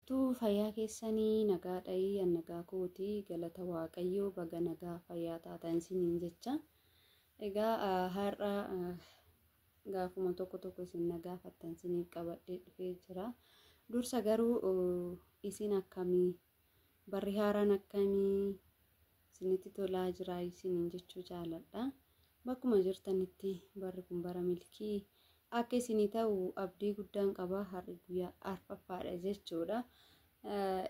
Tuu fayyaa keessani nagaa dhayi an nagaa kooti galata waaqayyoo baga nagaa fayyaa taatan isiniin jecha egaa har'a gaafuma tokko tokko isin nagaa fattan isiniif qabadhee dhufee jira dursa garuu isin akkamii barri haaraan akkamii isinitti tolaa jiraa isiniin jechuu jaaladha. Bakkuma jirtanitti barri kun bara milkii akka isinii ta'u abdii guddaan qaba har'i guyyaa arfaffaadha jechuudha.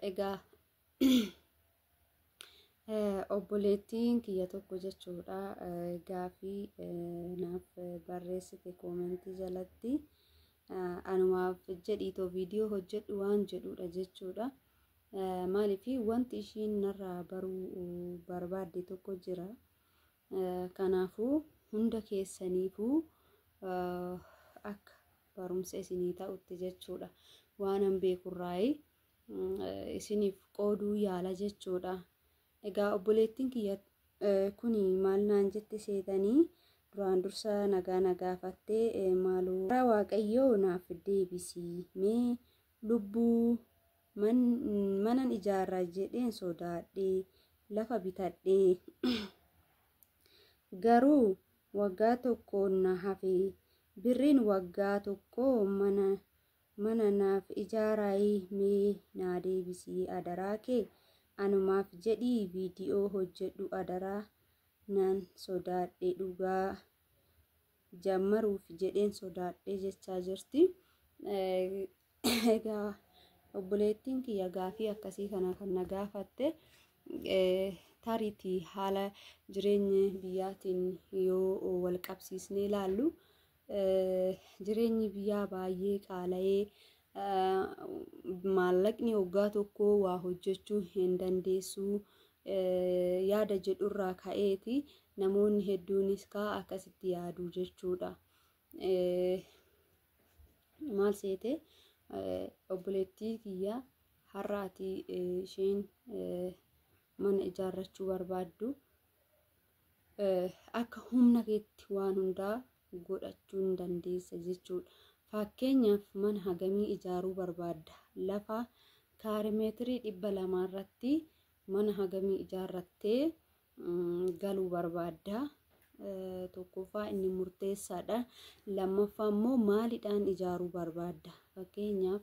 Egaa obboleettiin kiyya tokko jechuudha gaafii naaf barreessite koomentii jalatti anumaaf jedhiitoo viidiyoo hojjedhu waan jedhuudha jechuudha. Maaliif wanti ishiin narraa baruu barbaadde tokko jira. Kanaafuu hunda keessaniifuu akka barumsa isinii ta'utti jechuudha. Waanan beekurraayi isiniif qooduu yaala jechuudha. Egaa obboleettiin kiyya kuni maal naan jette seetanii duraan dursa nagaa na gaafattee maaloo karaa waaqayyoo naaf deebisii mee lubbuu Manan ijaarra jedheen sodaadhee lafa bitadhee garuu waggaa tokko na hafe birriin waggaa tokko mana mana naaf ijaaraayi mee naa deebisii adaraa kee anumaaf jedhii viidiyoo hojjedhu adaraa nan sodaadhe dhugaa jaammaruuf jedheen sodaadhee jechaa jirti. Egaa obboleettiin kiyya gaafii akkasii kana kan na gaafatte tariitii haala jireenya biyyaatiin yoo wal qabsiisnee ilaallu jireenyi biyyaa baay'ee qaala'ee maallaqni waggaa tokko waa hojjechuu hin dandeessu yaada jedhurraa ka'eeti namoonni hedduunis kaa akkasitti yaadu jechuudha. Maal seete obboleettii kiyya har'a ati isheen mana ijaarrachuu barbaaddu akka humna keetti waan hundaa godhachuu hin dandeessa jechuudha. Fakkeenyaaf mana hagamii ijaaruu barbaadda? Lafa kaarimeetirii dhibba lamaa irratti mana hagamii ijaarrattee galuu barbaadda? Tokkoffaa inni murteessaadha. Lammaffaa immoo maalidhaan ijaaruu barbaadda? Fakkeenyaaf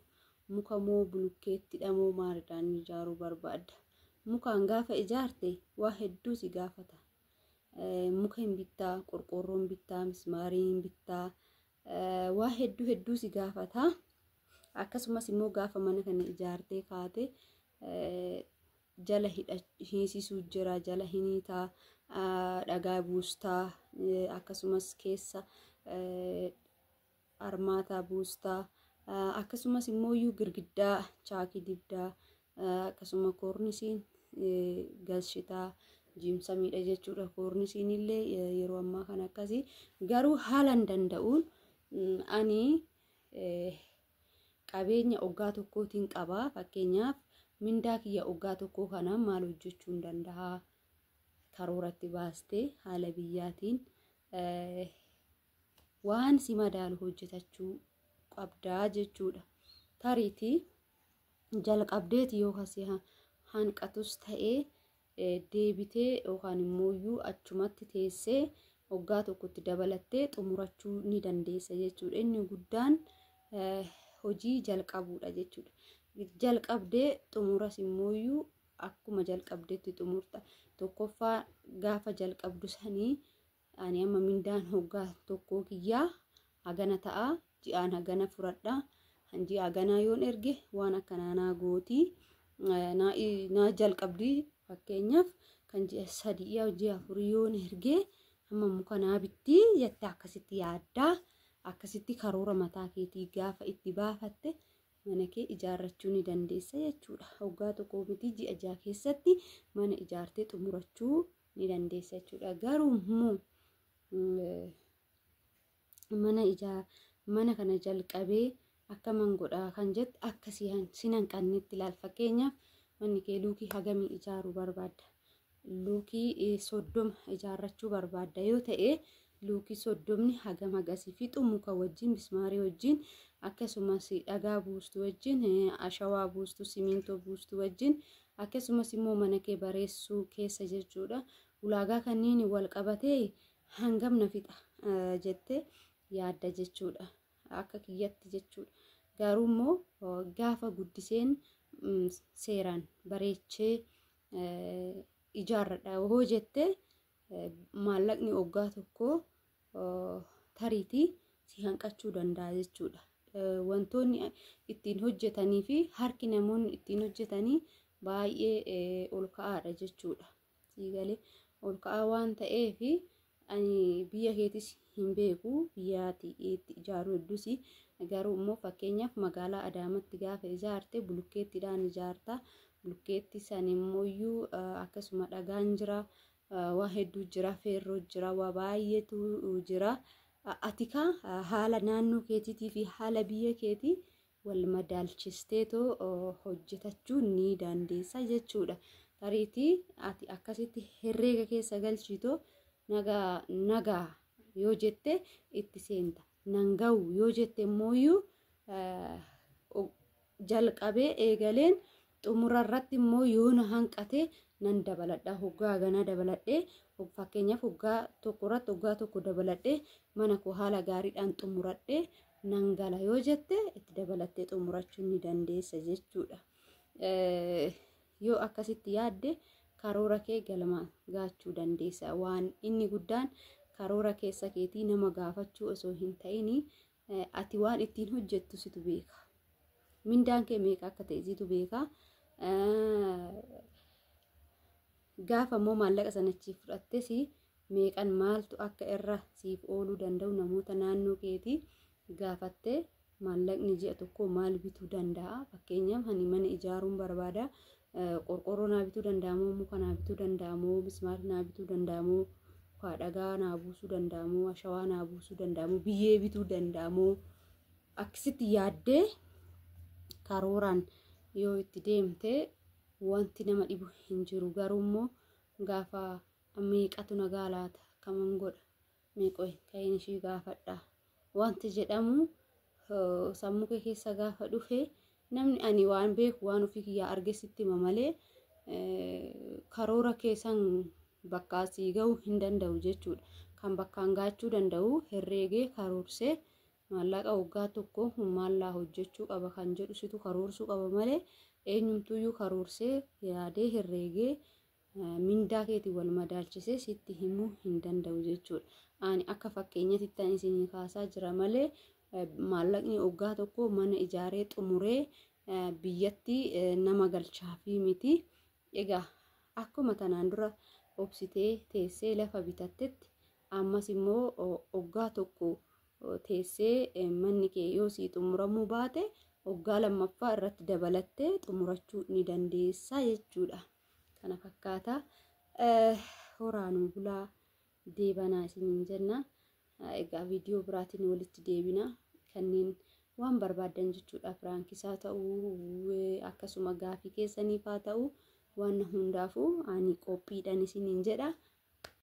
Muka moo bulukkeettidha moo maalidhaan ijaaruu barbaadda? Mukaan gaafa ijaarte waa hedduu si gaafata. Muka hin bittaa, qorqoorroo hin bittaa, mismaarii hin bittaa, waa hedduu hedduu si gaafata. Akkasumas immoo gaafa mana kana ijaartee kaate jala hiisisuu jira, jala hiniitaa, dhagaa buustaa, akkasumas keessa armaataa buusta akkasumas immoo iyyuu girgiddaa chaakii dibdaa akkasuma koornisiin galchitaa jiimsamiidha jechuudha koornisiin illee yeroo ammaa kan akkasii garuu haalan danda'uun ani qabeenya oggaa tokkootiin qaba fakkeenyaaf mindaa kiyya oggaa tokkoo kana maal hojjechuun danda'a karooratti baastee haala biyyaatiin waan si madaalu hojjetachuu qabdaa jechuudha. Tariiti jalqabdeeti yoo kasi hanqatus ta'ee deebitee yookaan immoo iyyuu achumatti teessee waggaa tokkotti dabalattee xumurachuu ni dandeessa jechuudha. Inni guddaan hojii jalqabuudha jechuudha. Jalqabdee xumuras immoo iyyuu akkuma jalqabdeetti xumurta. Tokkoffaa gaafa jalqabdu sanii Ani amma mindaan hoggaa tokkoo kiyyaa hagana ta'a ji'aan hagana furadha kan ji'a haganaa yoon erge waan akkanaa naa gooti naa jalqabdi fakkeenyaaf kan ji'a sadii yaa ji'a afurii yoon erge amma muka naa bitti jette akkasitti yaaddaa akkasitti karoora mataa keetii gaafa itti baafatte mana kee ijaarrachuu ni dandeessa jechuudha. Hoggaa tokko miti ji'a jaha keessatti mana ijaartee xumurachuu ni dandeessa jechuudha. Garuu immoo mana ijaa mana kana jalqabee akka man godhaa kan jette akka sin hanqannetti ilaal fakkeenyaaf manni kee luukii hagamii ijaaruu barbaadda luukii soddoma ijaarrachuu barbaadda yoo ta'e luukii soddomni hagam hagasii fixu muka wajjin mismaarii wajjin akkasumas dhagaa buustu wajjin ashawaa buustu simiintoo buustu wajjin akkasumas immoo mana kee bareessuu keessa jechuudha ulaagaa kanneen wal qabatee hangam na fixa jette yaadda jechuudha akka kiyyatti jechuudha garuu immoo gaafa guddiseen seeraan bareechee ijaarradha hoo jettee Maallaqni oggaa tokko tariitii si hanqachuu danda'a jechuudha. Wantoonni ittiin hojjetanii fi harki namoonni ittiin hojjetanii baay'ee ol ka'aadha jechuudha. Siigalee ol ka'aa waan ta'eef ani biyya keetis hin beeku biyyaati itti ijaaruu heddusi garuu immoo fakkeenyaaf magaalaa adaamatti gaafa ijaarte bulukkeettiidhaan ijaarta bulukkeetti san immooyyuu akkasuma dhagaan jira waa hedduu jira feerroo jira waa baay'eetu jira atikaa haala naannoo keetiitii fi haala biyya keetii wal madaalchisteetoo hojjetachuu ni dandeessa jechuudha. Tariitii ati akkasitti herreega keessa galchiitoo nagaa nagaa yoo jette itti seenta. Nan ga'u yoo jette immooyyuu jalqabee eegaleen Xumura irratti immoo yoo na hanqate nan dabaladha. Hoggaa haganaa dabaladhee fakkeenyaaf hoggaa tokko irratti hoggaa tokko dabaladhee mana koo haala gaariidhaan xumuradhee nan gala yoo jette itti dabalattee xumurachuu ni dandeessa jechuudha. Yoo akkasitti yaadde karoora kee galma gaachuu dandeessa. Waan inni guddaan karoora keessa keetii nama gaafachuu osoo hin ta'inii Ati waan ittiin hojjettu situ beeka. Mindaan kee meeqa akka ta'e situ beeka. Gaafa immoo maallaqa sana achii fudhattes meeqan maaltu akka irra siif ooluu danda'u namoota naannoo keetii gaafattee maallaqni ji'a tokkoo maal bituu danda'a. Fakkeenyaaf ani mana ijaaruun barbaada. Qorqoorroo naa bituu danda'amoo muka naa bituu danda'amoo mismaari naa bituu danda'amoo kaa dhagaa naa buusuu danda'amoo ashawaa naa buusuu danda'amoo biyyee bituu danda'amoo akkasitti yaaddee karooraan yoo itti deemte wanti nama dhibu hin jiru garuu immoo gaafa meeqatu nagaa laata kaman godha Mee qoy ka'een ishii gaafadha. Wanti jedhamu sammuu kee keessa gaafa dhufe namni ani waan beeku waan ofii kiyyaa arge sitti hima malee karoora keessan bakka asii ga'uu hin danda'u jechuudha. Kan bakkaan gaachuu danda'u herreegee karoorsee maallaqa waggaa tokko kun maallaa hojjechuu qaba kan jedhu situ karoorsuu qaba malee eenyumtuyyuu karoorsee yaadee herreegee mindaa keetiin wal madaalchisee sitti himuu hin danda'u jechuudha. Ani akka fakkeenyatti tan isinii kaasaa jira malee maallaqni oggaa tokko mana ijaaree xumuree biyyatti nama galchaafii miti. Egaa akkuma tanaan dura obsitee teessee lafa bitattetti ammas immoo oggaa tokko teessee manni kee yoo sii xumuramuu baate oggaa lammaffaa irratti dabalattee xumurachuu ni dandeessaa jechuudha. kana fakkaata horaa nuu bulaa deebanaa isiniin jenna egaa viidiyoo biraatiin walitti deebina kanneen waan barbaadan jechuudha piraankisaa ta'uu akkasuma gaafii keessaniif haa ta'uu waan hundaafuu ani qophiidhaan isiniin jedha.